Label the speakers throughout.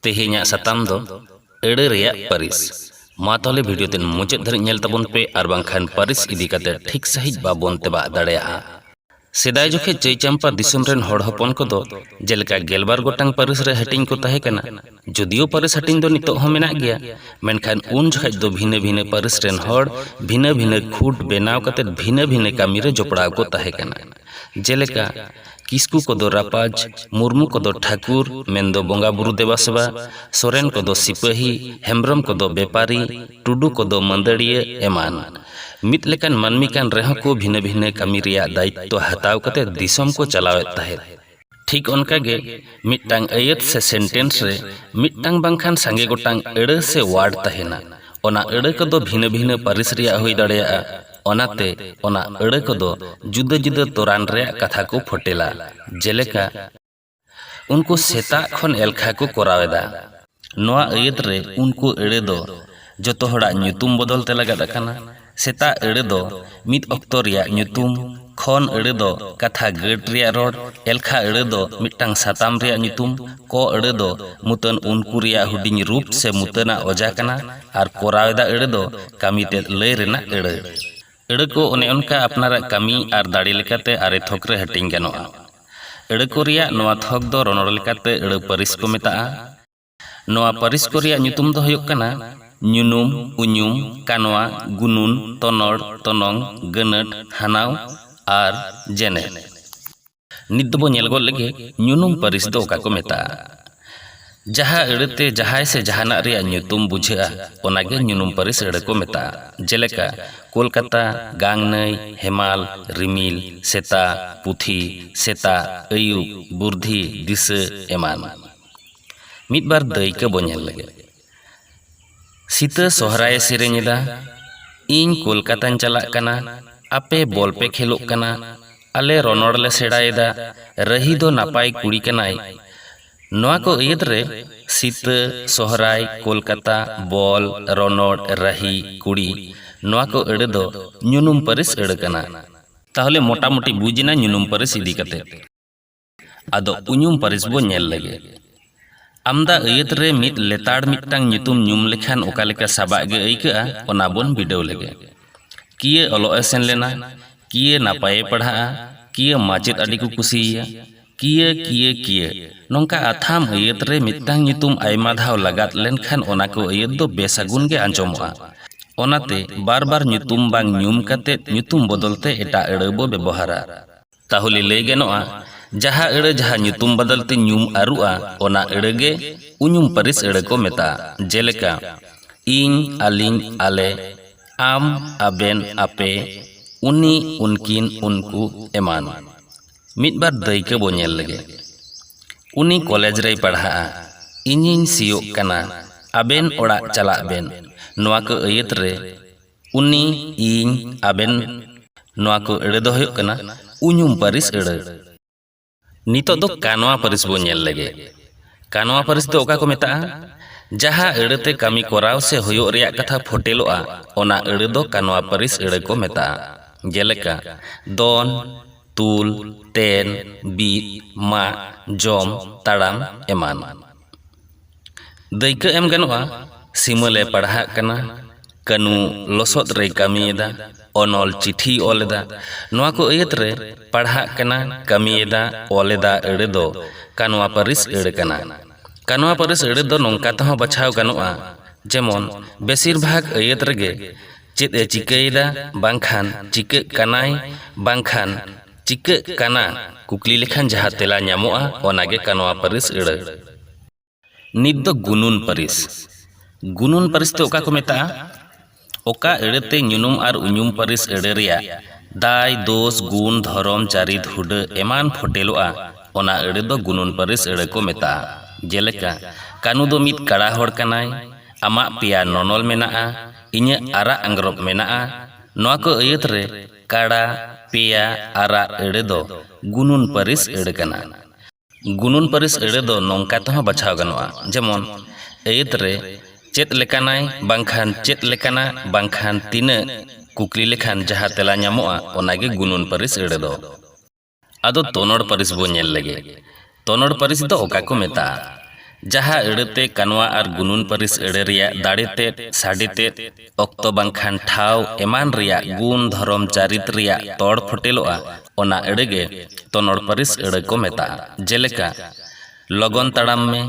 Speaker 1: ᱛᱮᱦᱮᱧᱟᱜ ᱥᱟᱛᱟᱢ ᱫᱚ ᱟᱹᱲᱟᱹ ᱨᱮᱭᱟᱜ ᱯᱟᱹᱨᱤᱥ ᱢᱟ ᱛᱟᱦᱚᱞᱮ ᱵᱷᱤᱰᱤᱭᱳ ᱛᱮᱱ ᱢᱩᱪᱟᱹᱫ ᱫᱷᱟᱹᱨᱤᱡ ᱧᱮᱞ ᱛᱟᱵᱚᱱ ᱯᱮ ᱟᱨ ᱵᱟᱝᱠᱷᱟᱱ ᱯᱟᱹᱨᱤᱥ ᱤᱫᱤ ᱠᱟᱛᱮ ᱴᱷᱤᱠ ᱥᱟᱺᱦᱤᱡ ᱵᱟᱵᱚᱱ ᱛᱮᱵᱟᱜ ᱫᱟᱲᱮᱭᱟᱜᱼᱟ ᱥᱮᱫᱟᱭ ᱡᱚᱠᱷᱮᱡ ᱪᱟᱹᱭᱪᱟᱢᱯᱟ ᱫᱤᱥᱚᱢ ᱨᱮᱱ ᱦᱚᱲ ᱦᱚᱯᱚᱱ ᱠᱚᱫᱚ ᱡᱮᱞᱮᱠᱟ ᱜᱮᱞᱵᱟᱨ ᱜᱚᱴᱟᱝ ᱯᱟᱹᱨᱤᱥ ᱨᱮ ᱦᱟᱹᱴᱤᱧ ᱠᱚ ᱛᱟᱦᱮᱸ ᱠᱟᱱᱟ ᱡᱩᱫᱤᱭᱳ ᱯᱟᱹᱨᱤᱥ ᱦᱟᱹᱴᱤᱧ ᱫᱚ ᱱᱤᱛᱚᱜ ᱦᱚᱸ ᱢᱮᱱᱟᱜ ᱜᱮᱭᱟ ᱢᱮᱱᱠᱷᱟᱱ ᱩᱱ ᱡᱚᱠᱷᱮᱡ ᱫᱚ ᱵᱷᱤᱱᱟᱹ ᱵᱷᱤᱱᱟᱹ ᱯᱟᱹᱨᱤᱥ ᱨᱮᱱ ᱦᱚᱲ ᱵᱷᱤᱱᱟᱹ ᱵᱷᱤᱱᱟᱹ ᱠᱷᱩᱸᱴ ᱵᱮᱱᱟᱣ ᱠᱟᱛᱮ ᱵᱷᱤᱱᱟᱹ ᱵᱷᱤᱱᱟᱹ ᱠᱟᱹᱢᱤ ᱨᱮ ᱡᱚᱯᱲᱟᱣ ᱠᱚ ᱛᱟᱦᱮᱸ ᱠᱟᱱᱟ ᱡᱮᱞᱮᱠᱟ ᱠᱤᱥᱠᱩ ᱠᱚᱫᱚ ᱨᱟᱯᱟᱡᱽ, ᱢᱩᱨᱢᱩ ᱠᱚᱫᱚ ᱴᱷᱟᱹᱠᱩᱨ ᱢᱮᱱᱫᱚ ᱵᱚᱸᱜᱟ ᱵᱩᱨᱩ ᱫᱮᱵᱟ ᱥᱮᱵᱟ, ᱥᱚᱨᱮᱱ ᱠᱚᱫᱚ ᱥᱤᱯᱟᱹᱦᱤ, ᱦᱮᱢᱵᱽᱨᱚᱢ ᱠᱚᱫᱚ ᱵᱮᱯᱟᱨᱤ, ᱴᱩᱰᱩ ᱠᱚᱫᱚ ᱢᱟᱹᱫᱟᱹᱲᱤᱭᱟᱹ ᱮᱢᱟᱱ᱾ ᱢᱤᱫ ᱞᱮᱠᱟᱱ ᱢᱟᱹᱱᱢᱤ ᱠᱟᱱ ᱨᱮᱦᱚᱸ ᱠᱚ ᱵᱷᱤᱱᱟᱹ ᱵᱷᱤᱱᱟᱹ ᱠᱟᱹᱢᱤ ᱨᱮᱭᱟᱜ ᱫᱟᱭᱤᱛᱛᱚ ᱦᱟᱛᱟᱣ ᱠᱟᱛᱮ ᱫᱤᱥᱚᱢ ᱠᱚ ᱪᱟᱞᱟᱣ ᱮᱫ ᱛᱟᱦᱮᱸᱫ᱾ ᱴᱷᱤᱠ ᱚᱱᱠᱟ ᱜᱮ ᱢᱤᱫᱴᱟᱝ ᱟᱹᱭᱟᱹᱛ ᱥᱮ ᱥᱮᱱᱴᱮᱱᱥ ᱨᱮ ᱢᱤᱫᱴᱟᱝ ᱵᱟᱝᱠᱷᱟᱱ ᱥᱟᱸᱜᱮ ᱜᱚᱴᱟᱝ ᱟᱹᱲᱟᱹ ᱥᱮ ᱣᱟᱨᱰ ᱛᱟᱦᱮᱸᱱᱟ᱾ ᱚᱱᱟ ᱟᱹᱲᱟᱹ ᱠᱚᱫᱚ ᱵᱷᱤᱱᱟᱹ ᱵᱷᱤᱱᱟᱹ ᱯᱟᱹᱨᱤᱥ ᱨᱮᱭᱟᱜ ᱦᱩᱭ ᱫᱟᱲᱮᱭᱟᱜᱼᱟ᱾ ᱚᱱᱟᱛᱮ ᱚᱱᱟ ᱟᱹᱲᱟᱹ ᱠᱚᱫᱚ ᱡᱩᱫᱟᱹ ᱡᱩᱫᱟᱹ ᱛᱚᱨᱟᱱ ᱨᱮᱭᱟᱜ ᱠᱟᱛᱷᱟ ᱠᱚ ᱯᱷᱚᱴᱮᱞᱟ᱾ ᱡᱮᱞᱮᱠᱟ᱾ ᱩᱱᱠᱩ ᱥᱮᱛᱟᱜ ᱠᱷᱚᱱ ᱮᱞᱠᱷᱟ ᱠᱚ ᱠᱚᱨᱟᱣ ᱮᱫᱟ᱾ ᱱᱚᱶᱟ ᱟᱹᱭᱟᱹᱛ ᱨᱮ ᱩᱱᱠᱩ ᱟᱹᱲᱟᱹ ᱫᱚ ᱡᱚᱛᱚ ᱦᱚᱲᱟᱜ ᱧᱩᱛᱩᱢ ᱵᱚᱫᱚᱞ ᱛᱮ ᱞᱟᱜᱟᱫ ᱟᱠᱟᱱᱟ᱾ ᱥᱮᱛᱟᱜ ᱟᱹᱲᱟᱹ ᱫᱚ ᱢᱤᱫ ᱚᱠᱛᱚ ᱨᱮᱭᱟᱜ ᱧᱩᱛᱩᱢ, ᱠᱷᱚᱱ ᱟᱹᱲᱟᱹ ᱫᱚ ᱠᱟᱛᱷᱟ ᱜᱟᱹᱴ ᱨᱮᱭᱟᱜ ᱨᱚᱲ, ᱮᱞᱠᱷᱟ ᱟᱹᱲᱟᱹ ᱫᱚ ᱢᱤᱫᱴᱟᱝ ᱥᱟᱛᱟᱢ ᱨᱮᱭᱟᱜ ᱧᱩᱛᱩᱢ, ᱠᱚ ᱟᱹᱲᱟᱹ ᱫᱚ ᱢᱩᱛᱟᱹᱱ ᱩᱱᱠᱩ ᱨᱮᱭᱟᱜ ᱦᱩᱰᱤᱧ ᱨᱩᱯ ᱥᱮ ᱢᱩᱛᱟᱹᱱ ᱟᱜ ᱚᱡᱟ ᱠᱟᱱᱟ᱾ ᱟᱨ ᱠᱚᱨᱟᱣ ᱮᱫᱟ ᱟᱹᱲᱟᱹ ᱫᱚ ᱠᱟᱹᱢᱤ ᱛᱮᱫ ᱞᱟᱹᱭ ᱨᱮᱱᱟᱜ ᱟᱹᱲᱟᱹ᱾ ᱟᱹᱲᱟᱹ ᱠᱚ ᱚᱱᱮ ᱚᱱᱠᱟ ᱟᱯᱱᱟᱨᱟᱜ ᱠᱟᱹᱢᱤ ᱟᱨ ᱫᱟᱲᱮ ᱞᱮᱠᱟᱛᱮ ᱟᱨᱮ ᱛᱷᱚᱠ ᱨᱮ ᱦᱟᱹᱴᱤᱧ ᱜᱟᱱᱚᱜᱼᱟ᱾ ᱟᱹᱲᱟᱹ ᱠᱚ ᱨᱮᱭᱟᱜ ᱱᱚᱣᱟ ᱛᱷᱚᱠ ᱫᱚ ᱨᱚᱱᱚᱲ ᱞᱮᱠᱟᱛᱮ ᱟᱹᱲᱟᱹ ᱯᱟᱹᱨᱤᱥ ᱠᱚ ᱢᱮᱛᱟᱜᱼᱟ᱾ ᱱᱚᱣᱟ ᱯᱟᱹᱨᱤᱥ ᱠᱚ ᱨᱮᱭᱟᱜ ᱧᱩᱛᱩᱢ ᱫᱚ ᱦᱩᱭᱩᱜ ᱠᱟᱱᱟ ᱧᱩᱱᱩᱢ, ᱩᱧᱩᱢ, ᱠᱟᱱᱣᱟ, ᱜᱩᱱᱩᱱ, ᱛᱚᱱᱚᱲ, ᱛᱚᱱᱚᱝ, ᱜᱟᱹᱱᱟᱹᱴ, ᱦᱟᱱᱟᱣ ᱟᱨ ᱡᱮᱱᱮᱛ᱾ ᱱᱤᱛ ᱫᱚᱵᱚ ᱧᱮᱞ ᱜᱚᱫ ᱞᱮᱜᱮ ᱧᱩᱱᱩᱢ ᱯᱟᱹᱨᱤᱥ ᱫᱚ ᱚᱠᱟ ᱠᱚ ᱢᱮᱛᱟᱜᱼᱟ᱾ ᱡᱟᱦᱟᱸ ᱟᱹᱲᱟᱹ ᱛᱮ ᱡᱟᱦᱟᱸᱭ ᱥᱮ ᱡᱟᱦᱟᱱᱟᱜ ᱨᱮᱭᱟᱜ ᱧᱩᱛᱩᱢ ᱵᱩᱡᱷᱟᱹᱜᱼᱟ ᱚᱱᱟ ᱜᱮ ᱧᱩᱱᱩᱢ ᱯᱟᱹᱨᱤᱥ ᱟᱹᱲᱟᱹ ᱠᱚ ᱢᱮᱛᱟᱜᱼᱟ᱾ ᱡᱮᱞᱮᱠᱟ, ᱠᱚᱞᱠᱟᱛᱟ, ᱜᱟᱝ ᱱᱟᱹᱭ, ᱦᱮᱢᱟᱞ, ᱨᱤᱢᱤᱞ, ᱥᱮᱛᱟ, ᱯᱩᱛᱷᱤ, ᱥᱮᱛᱟᱜ, ᱟᱹᱭᱩᱵ, ᱵᱩᱨᱫᱷᱤ, ᱫᱤᱥᱟᱹ ᱮᱢᱟᱱ᱾ ᱢᱤᱫ ᱵᱟᱨ ᱫᱟᱹᱭᱠᱟᱹ ᱵᱚ ᱧᱮᱞ ᱞᱮᱜᱮ᱾ ᱥᱤᱛᱟᱹ ᱥᱚᱦᱨᱟᱭᱮ ᱥᱮᱨᱮᱧ ᱮᱫᱟ ᱤᱧ ᱠᱚᱞᱠᱟᱛᱟᱧ ᱪᱟᱞᱟᱜ ᱠᱟᱱᱟ ᱟᱯᱮ ᱵᱚᱞ ᱯᱮ ᱠᱷᱮᱞᱚᱜ ᱠᱟᱱᱟ ᱟᱞᱮ ᱨᱚᱱᱚᱲ ᱞᱮ ᱥᱮᱬᱟ ᱮᱫᱟ ᱨᱟᱹᱦᱤ ᱫᱚ ᱱᱟᱯᱟᱭ ᱠᱩᱲᱤ ᱠᱟᱱᱟᱭ ᱱᱚᱣᱟ ᱠᱚ ᱟᱹᱭᱟᱹᱛ ᱨᱮ ᱥᱤᱛᱟᱹ ᱥᱚᱦᱨᱟᱭ ᱠᱚᱞᱠᱟᱛᱟ ᱵᱚᱞ ᱨᱚᱱᱚᱲ ᱨᱟᱹᱦᱤ ᱠᱩᱲᱤ ᱱᱚᱣᱟ ᱠᱚ ᱟᱹᱲᱟᱹ ᱫᱚ ᱧᱩᱱᱩᱢ ᱯᱟᱹᱨᱤᱥ ᱟᱹᱲᱟᱹ ᱠᱟᱱᱟ᱾ ᱛᱟᱦᱚᱞᱮ ᱢᱚᱴᱟᱢᱩᱴᱤ ᱵᱩᱡᱽ ᱮᱱᱟ ᱧᱩᱱᱩᱢ ᱯᱟᱹᱨᱤᱥ ᱤᱫᱤ ᱠᱟᱛᱮ᱾ ᱟᱫᱚ ᱩᱧᱩᱢ ᱯᱟᱹᱨᱤᱥ ᱵᱚ ᱧᱮᱞ ᱞᱮᱜᱮ ᱟᱢᱫᱟ ᱟᱹᱭᱟᱹᱛ ᱨᱮ ᱢᱤᱫ ᱞᱮᱛᱟᱲ ᱢᱤᱫᱴᱟᱝ ᱧᱩᱛᱩᱢ ᱧᱩᱢ ᱞᱮᱠᱷᱟᱱ ᱚᱠᱟ ᱞᱮᱠᱟ ᱥᱟᱵᱟᱜ ᱜᱮ ᱟᱹᱭᱠᱟᱹᱜᱼᱟ ᱚᱱᱟ ᱵᱚᱱ ᱵᱤᱰᱟᱹᱣ ᱞᱮᱜᱮ ᱠᱤᱭᱟᱹ ᱚᱞᱚᱜ ᱮ ᱥᱮᱱ ᱞᱮᱱᱟ ᱠᱤᱭᱟᱹ ᱱᱟᱯᱟᱭᱮ ᱯᱟᱲᱦᱟᱜᱼᱟ ᱠᱤᱭᱟᱹ ᱢᱟᱪᱮᱫ ᱟᱹᱰᱤ ᱠᱚ ᱠᱩᱥᱤᱭᱮᱭᱟ ᱠᱤᱭᱟᱹ ᱠᱤᱭᱟᱹ ᱠᱤᱭᱟᱹ ᱱᱚᱝᱠᱟ ᱟᱛᱷᱟᱢ ᱟᱹᱭᱟᱹᱛ ᱨᱮ ᱢᱤᱫᱴᱟᱝ ᱧᱩᱛᱩᱢ ᱟᱭᱢᱟ ᱫᱷᱟᱣ ᱞᱟᱜᱟᱛ ᱞᱮᱱᱠᱷᱟᱱ ᱚᱱᱟ ᱠᱚ ᱟᱹᱭᱟᱹᱛ ᱫᱚ ᱵᱮᱥᱟᱹᱜᱩᱱ ᱜᱮ ᱟᱸᱡᱚᱢᱚᱜᱼᱟ ᱚᱱᱟᱛᱮ ᱵᱟᱨ ᱵᱟᱨ ᱧᱩᱛᱩᱢ ᱵᱟᱝ ᱧᱩᱢ ᱠᱟᱛᱮ ᱧᱩᱛᱩᱢ ᱵᱚᱫᱚᱞ ᱛᱮ ᱮᱴᱟᱜ ᱟᱹᱲᱟᱹ ᱵᱚ ᱵᱮᱵᱚᱦᱟᱨᱟ ᱛᱟᱦᱚᱞᱮ ᱞᱟᱹᱭ ᱜᱟᱱᱚᱜᱼᱟ ᱡᱟᱦᱟᱸ ᱟᱹᱲᱟᱹ ᱡᱟᱦᱟᱸ ᱧᱩᱛᱩᱢ ᱵᱟᱫᱟᱞ ᱛᱮ ᱧᱩᱢ ᱟᱹᱨᱩᱜᱼᱟ ᱚᱱᱟ ᱟᱹᱲᱟᱹ ᱜᱮ ᱩᱧᱩᱢ ᱯᱟᱹᱨᱤᱥ ᱟᱹᱲᱟᱹ ᱠᱚ ᱢᱮᱛᱟᱜᱼᱟ ᱡᱮᱞᱮᱠᱟ ᱤᱧ ᱟᱹᱞᱤᱧ ᱟᱞᱮ ᱟᱢ ᱟᱵᱮᱱ ᱟᱯᱮ ᱩᱱᱤ ᱩᱱᱠᱤᱱ ᱩᱱᱠᱩ ᱮᱢᱟᱱ ᱢᱤᱫ ᱵᱟᱨ ᱫᱟᱹᱭᱠᱟᱹ ᱵᱚ ᱧᱮᱞ ᱞᱮᱜᱮ ᱩᱱᱤ ᱠᱚᱞᱮᱡᱽ ᱨᱮᱭ ᱯᱟᱲᱦᱟᱜᱼᱟ ᱤᱧᱤᱧ ᱥᱤᱭᱳᱜ ᱠᱟᱱᱟ ᱟᱵᱮᱱ ᱚᱲᱟᱜ ᱪᱟᱞᱟᱜ ᱵᱮᱱ ᱱᱚᱣᱟ ᱠᱚ ᱟᱹᱭᱟᱹᱛ ᱨᱮ ᱩᱱᱤ ᱤᱧ ᱟᱵᱮᱱ ᱱᱚᱣᱟ ᱠᱚ ᱟᱹᱲᱟᱹ ᱫᱚ ᱦᱩᱭᱩᱜ ᱠᱟᱱᱟ ᱩᱧᱩᱢ ᱯᱟᱹᱨᱤᱥ ᱟᱹᱲᱟᱹ ᱱᱤᱛᱚᱜ ᱫᱚ ᱠᱟᱱᱣᱟ ᱯᱟᱹᱨᱤᱥ ᱵᱚᱱ ᱧᱮᱞ ᱞᱮᱜᱮ ᱠᱟᱱᱣᱟ ᱯᱟᱹᱨᱤᱥ ᱫᱚ ᱚᱠᱟ ᱠᱚ ᱢᱮᱛᱟᱜᱼᱟ ᱡᱟᱦᱟᱸ ᱟᱹᱲᱟᱹ ᱛᱮ ᱠᱟᱹᱢᱤ ᱠᱚᱨᱟᱣ ᱥᱮ ᱦᱩᱭᱩᱜ ᱨᱮᱭᱟᱜ ᱠᱟᱛᱷᱟ ᱯᱷᱚᱴᱮᱞᱚᱜᱼᱟ ᱚᱱᱟ ᱟᱹᱲᱟᱹ ᱫᱚ ᱠᱟᱱᱣᱟ ᱯᱟᱹᱨᱤᱥ ᱟᱹᱲᱟᱹ ᱠᱚ ᱢᱮᱛᱟᱜᱼᱟ ᱡᱮᱞᱮᱠᱟ ᱫᱚᱱ ᱛᱩᱞ ᱛᱮᱱ ᱵᱤᱫ ᱢᱟᱜ ᱡᱚᱢ ᱛᱟᱲᱟᱢ ᱮᱢᱟᱱ ᱫᱟᱹᱭᱠᱟᱹ ᱮᱢ ᱜᱟᱱᱚᱜᱼᱟ ᱥᱤᱢᱟᱹᱞ ᱮ ᱯᱟᱲᱦᱟᱜ ᱠᱟᱱᱟ ᱠᱟᱹᱱᱩ ᱞᱚᱥᱚᱫ ᱨᱮᱭ ᱠᱟᱹᱢᱤᱭᱮᱫᱟ ᱚᱱᱚᱞ ᱪᱤᱴᱷᱤᱭ ᱚᱞ ᱮᱫᱟ ᱱᱚᱣᱟ ᱠᱚ ᱟᱹᱭᱟᱹᱛ ᱨᱮ ᱯᱟᱲᱦᱟᱜ ᱠᱟᱱᱟ ᱠᱟᱹᱢᱤᱭᱮᱫᱟ ᱚᱞ ᱮᱫᱟ ᱟᱹᱲᱟᱹ ᱫᱚ ᱠᱟᱱᱣᱟ ᱯᱟᱹᱨᱤᱥ ᱟᱹᱲᱟᱹ ᱠᱟᱱᱟ ᱠᱟᱱᱣᱟ ᱯᱟᱹᱨᱤᱥ ᱟᱹᱲᱟᱹ ᱫᱚ ᱱᱚᱝᱠᱟ ᱛᱮᱦᱚᱸ ᱵᱟᱪᱷᱟᱣ ᱜᱟᱱᱚᱜᱼᱟ ᱡᱮᱢᱚᱱ ᱵᱮᱥᱤᱨ ᱵᱷᱟᱜᱽ ᱟᱹᱭᱟᱹᱛ ᱨᱮᱜᱮ ᱪᱮᱫ ᱮ ᱪᱤᱠᱟᱹᱭᱮᱫᱟ ᱵᱟᱝᱠᱷᱟᱱ ᱪᱤᱠᱟᱹᱜ ᱠᱟᱱᱟᱭ ᱵᱟᱝᱠᱷᱟᱱ ᱪᱤᱠᱟᱹᱜ ᱠᱟᱱᱟ ᱠᱩᱠᱞᱤ ᱞᱮᱠᱷᱟᱱ ᱡᱟᱦᱟᱸ ᱛᱮᱞᱟ ᱧᱟᱢᱚᱜᱼᱟ ᱚᱱᱟᱜᱮ ᱠᱟᱱᱣᱟ ᱯᱟᱹᱨᱤᱥ ᱟᱹᱲᱟᱹ ᱱᱤᱛ ᱫᱚ ᱜᱩᱱᱩᱱ ᱯᱟᱹᱨᱤᱥ ᱜᱩᱱᱩᱱ ᱯᱟᱹᱨᱤᱥ ᱫᱚ ᱚᱠᱟ ᱠᱚ ᱢᱮᱛᱟᱜᱼᱟ ᱚᱠᱟ ᱟᱹᱲᱟᱹ ᱛᱮ ᱧᱩᱱᱩᱢ ᱟᱨ ᱩᱧᱩᱢ ᱯᱟᱹᱨᱤᱥ ᱟᱹᱲᱟᱹ ᱨᱮᱭᱟᱜ ᱫᱟᱭ ᱫᱳᱥ ᱜᱩᱱ ᱫᱷᱚᱨᱚᱢ ᱪᱟᱹᱨᱤᱛ ᱦᱩᱰᱟᱹ ᱮᱢᱟᱱ ᱯᱷᱳᱴᱮᱞᱚᱜᱼᱟ ᱚᱱᱟ ᱟᱹᱲᱟᱹ ᱫᱚ ᱜᱩᱱᱩᱱ ᱯᱟᱹᱨᱤᱥ ᱟᱹᱲᱟᱹ ᱠᱚ ᱢᱮᱛᱟᱜᱼᱟ ᱡᱮᱞᱮᱠᱟ ᱠᱟᱹᱱᱩ ᱫᱚ ᱢᱤᱫ ᱠᱟᱬᱟ ᱦᱚᱲ ᱠᱟᱱᱟᱭ ᱟᱢᱟᱜ ᱯᱮᱭᱟ ᱱᱚᱱᱚᱞ ᱢᱮᱱᱟᱜᱼᱟ ᱤᱧᱟᱹᱜ ᱟᱨᱟᱜ ᱟᱝᱜᱽᱨᱚᱵ ᱢᱮᱱᱟᱜᱼᱟ ᱱᱚᱣᱟ ᱠᱚ ᱟᱹᱭᱟᱹᱛ ᱨᱮ ᱠᱟᱬᱟ ᱯᱮᱭᱟ ᱟᱨᱟᱜ ᱟᱹᱲᱟᱹ ᱫᱚ ᱜᱩᱱᱩᱱ ᱯᱟᱹᱨᱤᱥ ᱟᱹᱲᱟᱹ ᱠᱟᱱᱟ ᱜᱩᱱᱩᱱ ᱯᱟᱹᱨᱤᱥ ᱟᱹᱲᱟᱹ ᱫᱚ ᱱᱚᱝᱠᱟ ᱛᱮᱦᱚᱸ ᱵᱟᱪᱷᱟᱣ ᱜᱟᱱᱚᱜᱼᱟ ᱡᱮᱢᱚᱱ ᱟᱹᱭᱟᱹᱛ ᱨᱮ ᱪᱮᱫ ᱞᱮᱠᱟᱱᱟᱭ ᱵᱟᱝᱠᱷᱟᱱ ᱪᱮᱫ ᱞᱮᱠᱟᱱᱟ ᱵᱟᱝᱠᱷᱟᱱ ᱛᱤᱱᱟᱹᱜ ᱠᱩᱠᱞᱤ ᱞᱮᱠᱷᱟᱱ ᱡᱟᱦᱟᱸ ᱛᱮᱞᱟ ᱧᱟᱢᱚᱜᱼᱟ ᱚᱱᱟᱜᱮ ᱜᱩᱱᱩᱱ ᱯᱟᱹᱨᱤᱥ ᱟᱹᱲᱟᱹ ᱫᱚ ᱟᱫᱚ ᱛᱚᱱᱚᱲ ᱯᱟᱹᱨᱤᱥ ᱵᱚ ᱧᱮᱞ ᱞᱮᱜᱮ ᱛᱚᱱᱚᱲ ᱯᱟᱹᱨᱤᱥ ᱫᱚ ᱚᱠᱟ ᱠᱚ ᱢᱮᱛᱟᱜᱼᱟ ᱡᱟᱦᱟᱸ ᱟᱹᱲᱟᱹᱛᱮ ᱠᱟᱱᱣᱟ ᱟᱨ ᱜᱩᱱᱩᱱ ᱯᱟᱹᱨᱤᱥ ᱟᱹᱲᱟᱹ ᱨᱮᱭᱟᱜ ᱫᱟᱲᱮ ᱛᱮᱫ ᱥᱟᱰᱮ ᱛᱮᱫ ᱚᱠᱛᱚ ᱵᱟᱝᱠᱷᱟᱱ ᱴᱷᱟᱶ ᱮᱢᱟᱱ ᱨᱮᱭᱟᱜ ᱜᱩᱱ ᱫᱷᱚᱨᱚᱢ ᱪᱟᱹᱨᱤᱛ ᱨᱮᱭᱟᱜ ᱛᱚᱲ ᱯᱷᱚᱴᱮᱞᱚᱜᱼᱟ ᱚᱱᱟ ᱟᱹᱲᱟᱹ ᱜᱮ ᱛᱚᱱᱚᱲ ᱯᱟᱹᱨᱤᱥ ᱟᱹᱲᱟᱹ ᱠᱚ ᱢᱮᱛᱟᱜᱼᱟ ᱡᱮᱞᱮᱠᱟ ᱞᱚᱜᱚᱱ ᱛᱟᱲᱟᱢ ᱢᱮ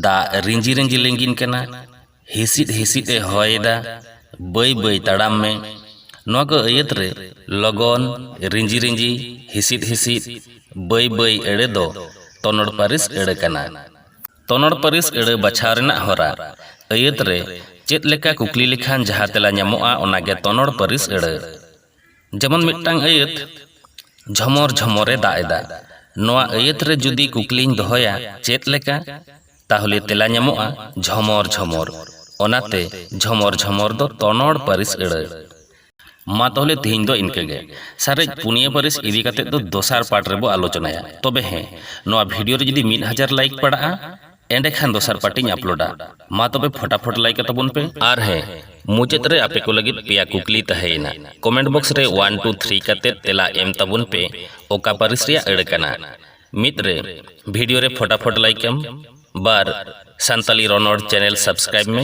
Speaker 1: ᱫᱟᱜ ᱨᱤᱸᱡᱤ ᱨᱤᱸᱡᱤ ᱞᱤᱸᱜᱤᱱ ᱠᱟᱱᱟ ᱦᱤᱥᱤᱫ ᱦᱤᱥᱤᱫ ᱮ ᱦᱚᱭ ᱮᱫᱟ ᱵᱟᱹᱭ ᱵᱟᱹᱭ ᱛᱟᱲᱟᱢ ᱢᱮ ᱱᱚᱣᱟ ᱠᱚ ᱟᱹᱭᱟᱹᱛ ᱨᱮ ᱞᱚᱜᱚᱱ ᱨᱤᱸᱡᱤ ᱨᱤᱸᱡᱤ ᱦᱤᱥᱤᱫ ᱦᱤᱥᱤᱫ ᱵᱟᱹᱭ ᱵᱟᱹᱭ ᱟᱹᱲᱟᱹ ᱫᱚ ᱛᱚᱱᱚᱲ ᱯᱟᱹᱨᱤᱥ ᱟᱹᱲᱟᱹ ᱠᱟᱱᱟ ᱛᱚᱱᱚᱲ ᱯᱟᱹᱨᱤᱥ ᱟᱹᱲᱟᱹ ᱵᱟᱪᱷᱟᱣ ᱨᱮᱱᱟᱜ ᱦᱚᱨᱟ᱾ ᱟᱹᱭᱟᱹᱛ ᱨᱮ ᱪᱮᱫ ᱞᱮᱠᱟ ᱠᱩᱠᱞᱤ ᱞᱮᱠᱷᱟᱱ ᱡᱟᱦᱟᱸ ᱛᱮᱞᱟ ᱧᱟᱢᱚᱜᱼᱟ ᱚᱱᱟ ᱜᱮ ᱛᱚᱱᱚᱲ ᱯᱟᱹᱨᱤᱥ ᱟᱹᱲᱟᱹ᱾ ᱡᱮᱢᱚᱱ ᱢᱤᱫᱴᱟᱝ ᱟᱹᱭᱟᱹᱛ, ᱡᱷᱚᱢᱚᱨ ᱡᱷᱚᱢᱚᱨ ᱮ ᱫᱟᱜ ᱮᱫᱟ᱾ ᱱᱚᱶᱟ ᱟᱹᱭᱟᱹᱛ ᱨᱮ ᱡᱩᱫᱤ ᱠᱩᱠᱞᱤᱧ ᱫᱚᱦᱚᱭᱟ ᱪᱮᱫ ᱞᱮᱠᱟ? ᱛᱟᱦᱞᱮ ᱛᱮᱞᱟ ᱧᱟᱢᱚᱜᱼᱟ ᱡᱷᱚᱢᱚᱨ ᱡᱷᱚᱢᱚᱨ᱾ ᱚᱱᱟᱛᱮ ᱡᱷᱚᱢᱚᱨ ᱡᱷᱚᱢᱚᱨ ᱫᱚ ᱛᱚᱱᱚᱲ ᱯᱟᱹᱨᱤᱥ ᱟᱹᱲᱟᱹ᱾ ᱢᱟ ᱛᱟᱦᱚᱞᱮ ᱛᱮᱦᱮᱧ ᱫᱚ ᱤᱱᱠᱟᱹ ᱜᱮ ᱥᱟᱨᱮᱡ ᱯᱩᱱᱭᱟᱹ ᱯᱟᱹᱨᱤᱥ ᱤᱫᱤ ᱠᱟᱛᱮ ᱫᱚ ᱫᱚᱥᱟᱨ ᱯᱟᱴ ᱨᱮᱵᱚ ᱟᱞᱳᱪᱚᱱᱟᱭᱟ ᱛᱚᱵᱮ ᱦᱮᱸ ᱱᱚᱣᱟ ᱵᱷᱤᱰᱤᱭᱳ ᱨᱮ ᱡᱩᱫᱤ ᱢᱤᱫ ᱦᱟᱡᱟᱨ ᱞᱟᱭᱤᱠ ᱯᱟᱲᱟᱜᱼᱟ ᱮᱸᱰᱮ ᱠᱷᱟᱱ ᱫᱚᱥᱟᱨ ᱯᱟᱴ ᱤᱧ ᱟᱯᱞᱳᱰᱟ ᱢᱟ ᱛᱚᱵᱮ ᱯᱷᱚᱴᱟᱯᱷᱚᱴ ᱞᱟᱭᱤᱠ ᱟᱛᱟᱵᱚᱱ ᱯᱮ ᱟᱨ ᱦᱮᱸ ᱢᱩᱪᱟᱹᱫ ᱨᱮ ᱟᱯᱮ ᱠᱚ ᱞᱟᱹᱜᱤᱫ ᱯᱮᱭᱟ ᱠᱩᱠᱞᱤ ᱛᱟᱦᱮᱸᱭᱮᱱᱟ ᱠᱚᱢᱮᱱᱴ ᱵᱚᱠᱥ ᱨᱮ ᱚᱣᱟᱱ ᱴᱩ ᱛᱷᱨᱤ ᱠᱟᱛᱮ ᱛᱮᱞᱟ ᱮᱢ ᱛᱟᱵᱚᱱ ᱯᱮ ᱚᱠᱟ ᱯᱟᱹᱨᱤᱥ ᱨᱮᱭᱟᱜ ᱟᱹᱲᱟᱹ ᱠᱟᱱᱟ ᱢᱤᱫ ᱨᱮ ᱵᱷᱤᱰᱤᱭᱳ ᱨᱮ ᱯᱷᱚᱴᱟᱯᱷᱚᱴ ᱞᱟᱭᱤᱠ ᱮᱢ ᱵᱟᱨ ᱥᱟᱱᱛᱟᱞᱤ ᱨᱚᱱᱚᱲ ᱪᱮᱱᱮᱞ ᱥᱟᱵᱥᱠᱨᱟᱭᱤᱵᱽ ᱢᱮ